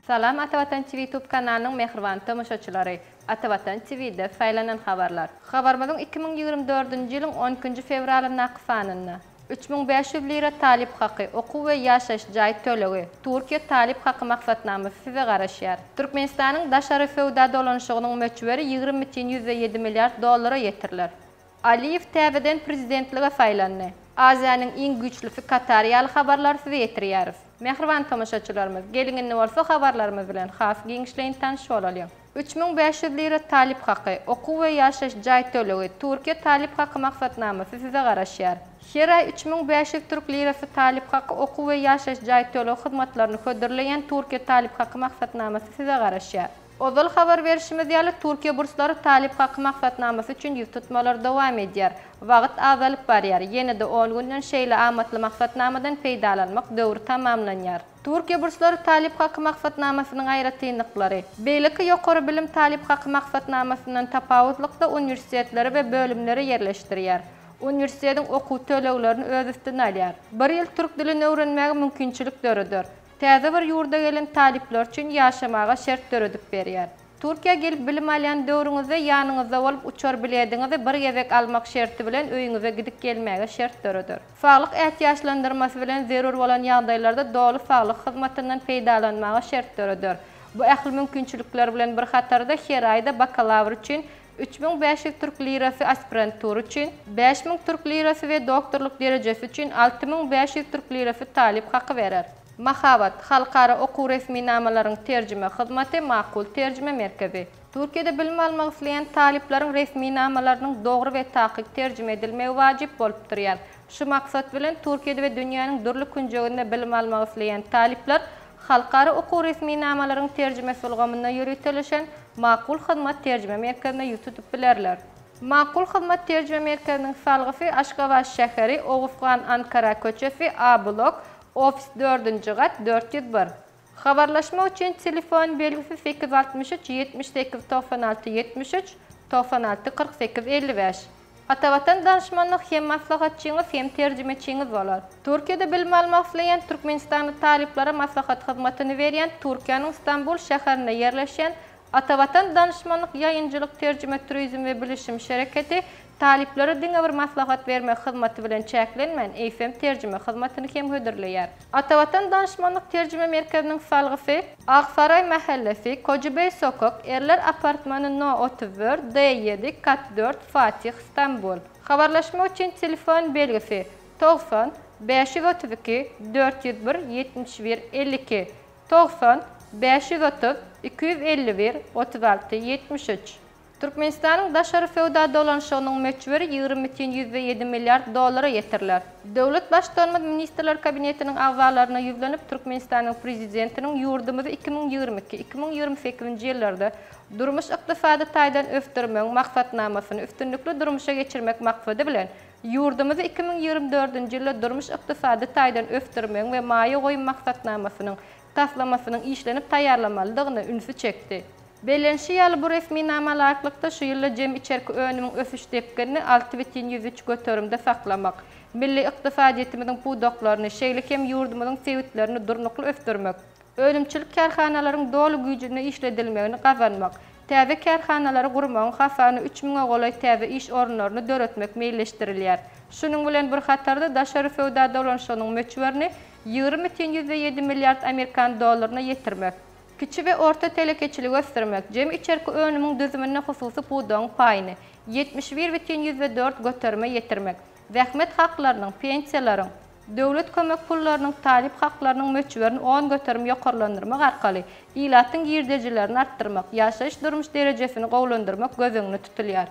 Salam Atavatan TV Tube kanalynyň mähriban tomaşaçylary! Atavatan TV'de saýlanan habarlar. Habarymyzyň iki müň ýigrimi dördünji ýylyň on ikinji fewralyndaky sanynda. Üç müň bäş ýüz lira talyp haky, okuw we ýaşaýyş jaý tölegi, Türkiýe talyp haky maksatnamasy size garaşýar. Türkmenistanyň daşary söwda dolanyşygynyň möçberi ýigrimi bütin ýüzde ýedi milliard dollara ýetiriler. Aliýew täzeden prezidentlige saýlandy. Aziýanyň iň güýçlüsi Katar ýaly habarlary size ýetirýäris. Mähriban tomaşaçylarymyz, geliň indi bolsa habarlarymyz bilen has giňişleýin tanyş bolalyň. Üç müň bäş ýüz lira talyp haky, okuw we ýaşaýyş jaý tölegi, Türkiýe talyp haky maksatnamasy size garaşýar. Her aý üç müň bäş ýüz türk lirasy talyp haky, okuw we ýaşaýyş jaý tölegi hyzmatlaryny hödürleýän Türkiýe talyp haky maksatnamasy size garaşýar. Ozal habar berşimiz ýaly, Türkiýe burslary talyp haky maksatnamasy üçin ýüz tutmalary dowam edýär. Wagt azalyp barýar. Ýene-de on günden şeýle amatly maksatnamadan peýdalanmak döwri tamamlanýar. Türkiýe burslary talyp haky maksatnamasynyň aýratynlyklary. Beýleki ýokary bilim talyp haky maksatnamasyndan tapawutlykda uniwersitetleri we bölümleri ýerleşdirýär. Uniwersitetiň okuw töleglerini öz üstüne alýar. Bir ýyl türk dilini öwrenmäge mümkinçilik döreder. Täze bir ýurda gelen talyplar üçin ýaşamaga şert döredip berýär. Türkiýä gelip bilim alýan döwrüňizde ýanyňyzda bolup uçar bilediňizi bir gezek almak şerti bilen öýüňize gidip gelmäge şert döreder. Saglyk ätiýaçlandyrmasy bilen zerur bolan ýagdaýlarda doly saglyk hyzmatyndan peýdalanmaga şert döreder. Bu ähli mümkinçilikler bilen bir hatarda her aýda bakalawr üçin Üç müň bäş ýüz türk lirasy aspirantura üçin, bäş müň türk lirasy we doktorlyk derejesi üçin alty müň bäş ýüz türk lirasy talyp haky berer. Mahabat, halkara okuw resminamalaryň terjime hyzmaty, Makul terjime merkezi. Türkiýede bilim almak isleýän talyplaryň resminamalarynyň dogry we takyk terjime edilmegi wajyp bolup durýar. Şu maksat bilen, Türkiýede we dünýäniň dürli künjeginde bilim almak isleýän talyplar Halkara okuw resminamalaryň terjimesi ulgamynda ýöriteleşen Makul hyzmat terjime merkezine ýüz tutup bilerler. Makul hyzmat terjime merkeziniň salgysy Aşgabat şäheri, Oguzhan Ankara köçesi, A blok, ofis dördünji gat, dört ýüz bir. Habarlaşmak üçin telefon belgisi sekiz altmyş üç ýetmiş sekiz togsan alty ýetmiş üç, togsan alty kyrk sekiz elli bäş. Atavatan Danşmanlyk hem maslahatçyňyz hem terjimeçiňiz bolar. Türkiýede bilim almak isleýän türkmenistanly talyplara maslahat hyzmatyny berýän Türkiýäniň Stambul şäherinde ýerleşýän Atavatan Danyşmanlyk Ýaýynjylyk Terjime Turizm we Bilişim Şereketi talyplara diňe bir maslahat bermek hyzmaty bilen çäklenmän, eýsem terjime hyzmatyny hem hödürleýär. Atavatan Danyşmanlyk Terjime Merkeziniň salgysy. Aksaraý mähellesi, Kojibeý sokak, Erler apartmany no. Otuz dört, D ýedi, kat dört, Fatih, Stambul. Habarlaşmak üçin telefon belgisi, Togsan, bäş ýüz otuz iki, dört ýüz bir, ýetmiş bir, elli iki, Togsan, bäş ýüz otuz, iki ýüz elli bir, otuz alty, ýetmiş üç. Türkmenistanyň daşary söwda dolanyşygynyň möçberi ýigrimi bütin ýüzde ýedi milliard dollara ýetirler. Döwlet Baştutanymyz Ministrler Kabinetiniň agzalaryna ýüzlenip, Türkmenistanyň Prezidentiniň ýurdumyzy iki müň ýigrimi iki, iki müň ýigrimi sekizinji ýyllarda durmuş-ykdysady taýdan ösdürmegiň Maksatnamasyny üstünlikli durmuşa geçirmek maksady bilen, Ýurdumyzy iki müň ýigrimi dördünji ýylda durmuş-ykdysady taýdan ösdürmegiň we maýa goýum maksatnamasynyň taslamasynyň işlenip taýýarlamalydygyna ünsi çekdi. Bellenişi ýaly, bu resminama laýyklykda, şu ýylda jemi içerki önümiň ösüş depginini alty bütin ýüz üç göterimde saklamak, milli ykdysadyýetimiziň pudaklaryny, şeýle hem ýurdumyzyň sebitlerini durnukly ösdürmek, Önümçilik kärhanalaryň doly güýjünde işledilmegini gazanmak, täze kärhanalary gurmagyň hasana üç müňe golaý täze iş orunlaryny döretmek meýilleşdirilýär. Şunuň bilen bir hatarda, daşary söwda dolanyşygynyň möçberini ýigrimi mütin ýüzde ýedi milliard amerikan dollaryna ýetirmek, kiçi we orta telekeçiligi ösdürmek, jemi içerki önümiň düzüminde hususy pudagyň paýyny ýetmiş bir mütin ýüzde dört göterime ýetirmek, Zähmet haklarynyň, pensiýalaryň, döwlet kömek pullarynyň, talyp haklarynyň möçberini on göterim ýokarlandyrmak arkaly ilatyň girdejilerini artdyrmak, ýaşaýyş-durmuş derejesini gowulandyrmak göz öňünde tutulýar.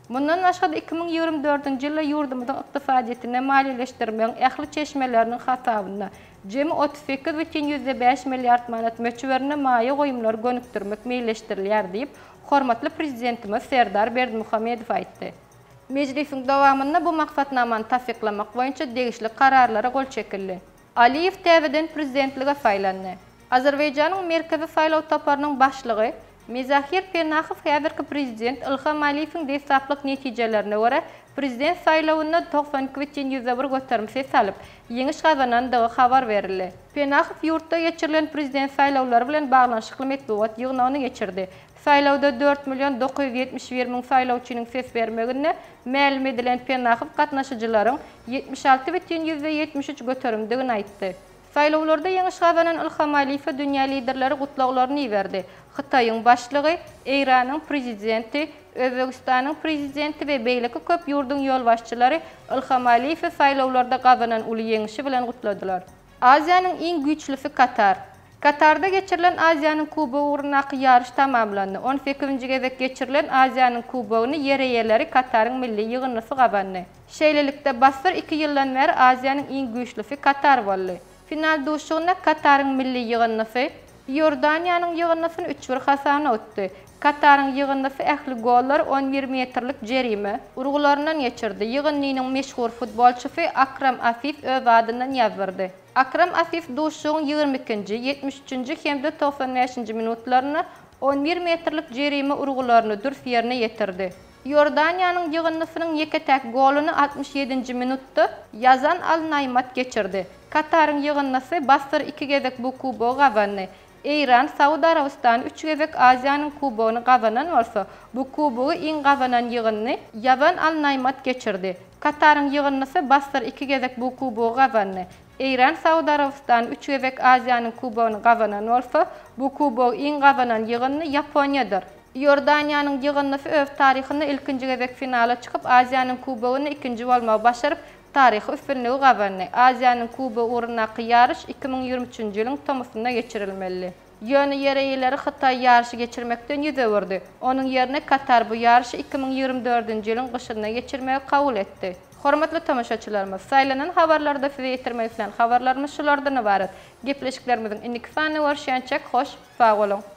Mundan başga-da iki müň ýigrimi dördünji ýylda ýurdumyzyň ykdysadyýetini maliýeleşdirmegiň ähli çeşmeleriniň hasabyna jemi otuz sekiz bütin ýüzde bäş milliard manat möçberinde maýa goýumlary gönükdirmek meýilleşdirilýär diýip, hormatly Prezidentimiz Serdar Berdimuhamedow aýtdy. Mejlisiň dowamynda bu maksatnamany tassyklamak boýunça degişli kararlara gol çekildi. Aliýew täzeden prezidentlige saýlandy. Azerbaýjanyň Merkezi saýlaw toparynyň başlygy Mizahir Penahow häzirki prezident Ilham Aliýewiň deslaplyk netijelerine görä, prezident saýlawynda togsan iki bütin ýüzde bir göterim ses alyp, ýeňiş gazanandygy habar berildi. Penahow ýurtda geçirilen prezident saýlawlary bilen baglanyşykly metbugat ýygnagyny geçirdi. Saýlawda dört million dokuz ýüz ýetmiş bir müň saýlawçynyň ses bermegine, mälim edilen Pennahow gatnaşyjylaryň ýetmiş alty bütin ýüzde ýetmiş üç göterimdigini aýtdy. Saýlawlarda ýeňiş gazanan Ylham Alyýewe dünýä liderleri gutlaglaryny iberdi. Hytaýyň Başlygy, Eýranyň Prezidenti, Özbegistanyň Prezidenti we beýleki köp ýurduň ýolbaşçylary Ylham Alyýewi saýlawlarda gazanan uly ýeňişi bilen gutladylar. Aziýanyň iň güýçlüsi Katar. Katarda geçirilen Aziýanyň Kubogy ugrundaky ýaryş tamamlandy. On sekizinji gezek geçirilen Aziýanyň Kubogyny ýereýeleri Kataryň milli ýygyndysy gazandy. Şeýlelikde, bassyr iki ýyldan bäri Aziýanyň iň güýçlüsi Katar boldy. Final duşuşygynda Kataryň milli ýygyndysy Iordaniýanyň ýygyndysyny üç-bir hasabna utdy. Kataryň ýygyndysy ähli gollary on bir metrlik jerime urgularyndan geçirdi. Ýygyndynyň meşhur futbolçysy Akram Afif öz adyndan ýazdyrdy. Akram Afif duşuşygyň ýigrimi ikinji, ýetmiş üçünji hem-de togsan bäşinji minutlarynda on bir metrlik jerime urgularyny dürs ýerine ýetirdi. Iordaniýanyň ýygyndysynyň ýeke-täk goluny altmyş ýedinji minutda Ýazan Al-Naýmat geçirdi. Kataryň ýygyndysy bassyr iki gezek bu kubogy gazandy. Eýran, Saud Arabystany üç gezek Aziýanyň Kubogyny gazanan bolsa, bu Kubogy iň gazanan ýygyndy. Ýazan Al-Naýmat geçirdi. Kataryň ýygyndysy Bassyr iki gezek bu Kubogy gazandy. Eýran, Saud Arabystany üç gezek Aziýanyň Kubogyny gazanan bolsa, bu Kubogy iň gazanan ýygyndy Ýaponiýadyr. Iordaniýanyň ýygyndysy öz taryhynda ilkinji gezek finala çykyp, Aziýanyň Kubogyny ikinji bolmagy başaryp, Taryhy üstünligi gazandy. Aziýanyň Kubogy ugrundaky ýaryş iki müň ýigrimi üçünji ýylyň tomusynda geçirilmelidi. Ýöne ýereýleri Hytaý ýaryşy geçirmekden ýüz öwürdi. Onuň ýerine Katar bu ýaryşy iki müň ýigrimi dördünji ýylyň gyşynda geçirmegi kabul etdi. Hormatly tomaşaçylarymyz, saýlanan habarlarda size ýetirmek islän habarlarymyz şulardan ybarat. Gepleşiklerimiziň indiki sanyny görüşýänçäk hoş, sag boluň!